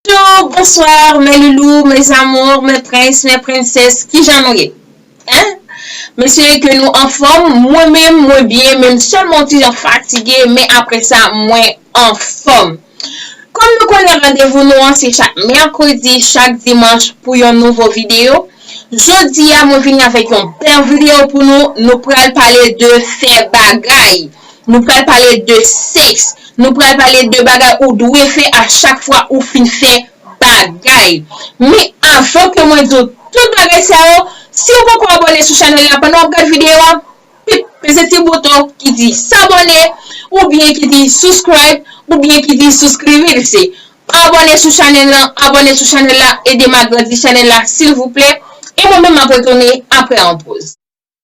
Bonjour, bonsoir, mes loulous, mes amours, mes princes, mes princesses, kijan nou ye? Hein? M espere ke nou anfòm, mwen menm mwen byen men m sèlman yon ti jan fatige men aprè sa mwen anfòm. Kòm nou konnen randevou nou an se chak mèkredi, chak dimanch pou yon nouvo videyo. Jodi a mwen vini avèk yon bèl videyo pou nou, nou pral pale de fè bagay. Nou pral pale de sèks. Nou pral pale de bagay ou dwe fè a chak fwa ou fin fè bagay. Men avan ke mwen di w tout bagay sa yo, si ou poko abòne sou chanèl la pandan w ap gad videyo a, pip peze ti bouton ki di sabòne oubyen ki di subscribe oubyen ki di suscribirse. Abòne sou chanèl lan, abòne sou chanèl la, ede m agrandi chanèl la silvouplè. E mwen menm m ap retounen aprè yon poz.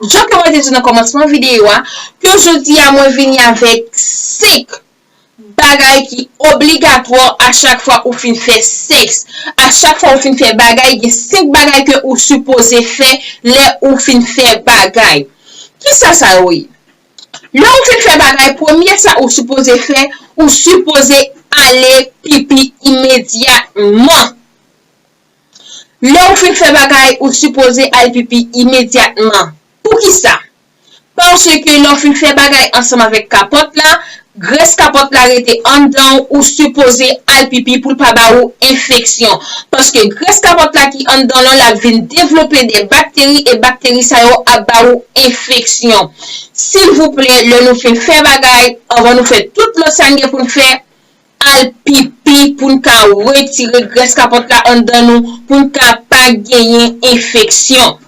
Jan ke mwen te di nan kòmansman videyo a, ke jodi a mwen vini avèk 5 bagay ki obligatwa a chak fwa ou fin fè sèks. A chak fwa ou fin fè bagay, gen 5 bagay ke ou sipoze fè lè ou fin fè bagay. Kisa sa yo ye? Lè ou fin fè bagay, premye sa ou sipoze fè, ou sipoze ale pipi imedyatman. Lè ou fin fè bagay, ou sipoze al pipi imedyatman. Poukisa? Paske lè ou fin fè bagay ansanm avèk kapòt la, grès kapòt la rete anndan ou, ou sipoze al pipi pou l pa ba ou enfeksyon. Paske grès kapòt la ki anndan lan la vin devlope de bakteri e bakteri sa yo ap ba ou enfeksyon. Silvouplè lè nou fin fè bagay, anvan nou fè tout lòt sa n gen pou n fè, al pipi pou n ka retire grès kapòt la anndan nou pou n ka pa genyen enfeksyon.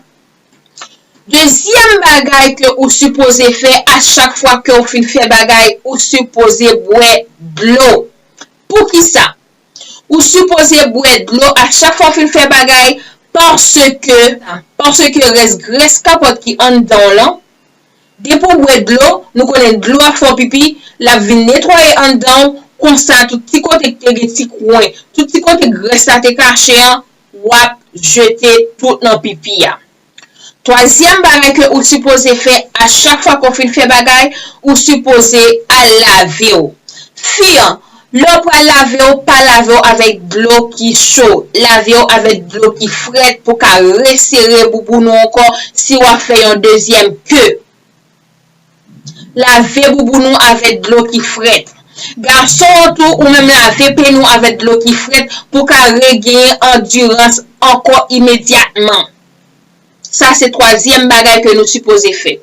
Dezyèm bagay ke ou sipoze fè a chak fwa ke w fin fè bagay ou sipoze bwè dlo. Poukisa ou sipoze bwè dlo a chak fwa w fin fè bagay paske paske rès grès kapòt ki anndan w lan Depi w bwè dlo, nou konnen dlo ap fè w pipi, l ap vin netwaye anndan w, konsa tout ti kote ki te gen ti kwen, tout ti kote grès la te kache an, w ap jete tout nan pipi a. Twazyèm bagay ke ou sipoze fè a chak fwa ke w fin fè bagay, ou sipoze al lave w. Fi an, Lè w pral lave w, pa lave w avèk dlo ki cho. Lave w avèk dlo ki frèt pou ka resere bouboun ou ankò si w ap fè yon dezyèm ke. Lave bouboun ou avèk dlo ki frèt. Gason an tou, ou menm lave peni w avèk dlo ki frèt pou ka regenyen andirans ankò imedyatman. Sa se twazyèm bagay ke nou sipoze fè.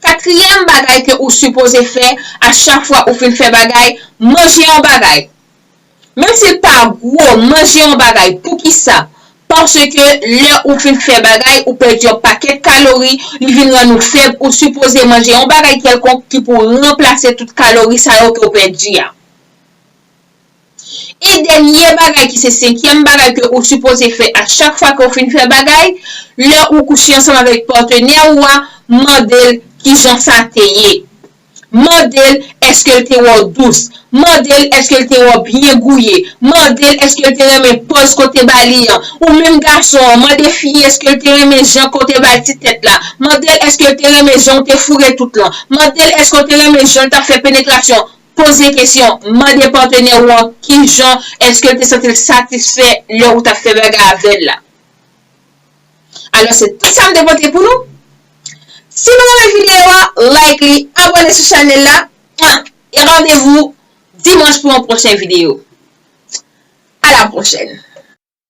Katriyèm bagay ke ou sipoze fè a chak fwa ou fin fè bagay, manje yon bagay. Menm si l pa gwo, manje yon bagay. Poukisa? Paske lè ou fin fè bagay, ou pèdi yon pakèt kalori, li vin rann ou fèb, ou sipoze manje yon bagay kèlkonk ki pou ranplase tout kalori sa yo ke ou pèdi a. E dènye bagay ki se senkyèm bagay ke ou sipoze fè a chak fwa ke ou fin fè bagay, lè ou kouche ansanm avèk patenè ou a, mande'l kijan sa te ye. Mande'l èske'l te wè w dous. Mande'l èske'l te wè w byen gouye. Mande'l èske'l te renmen pòz ke w te ba li an. Ou menm gason an, mande fi a èske'l te renmen jan ke w te ba'l ti tèt la. Mande'l èske'l te renmen jan ou te foure tout lan. Mande'l èske'w te renmen jan'l t'ap fè penetrasyon. Poze kesyon, Mande patenè ou an ki jan èske l te santi l satisfè lè ou t ap fè bagay avè l la. Alò se tout sa m te pote pou nou. Si nou renmen videyo a, like li, abòne sou chanèl la, e randevou dimanch pou yon pwochen videyo. A la pwochèn!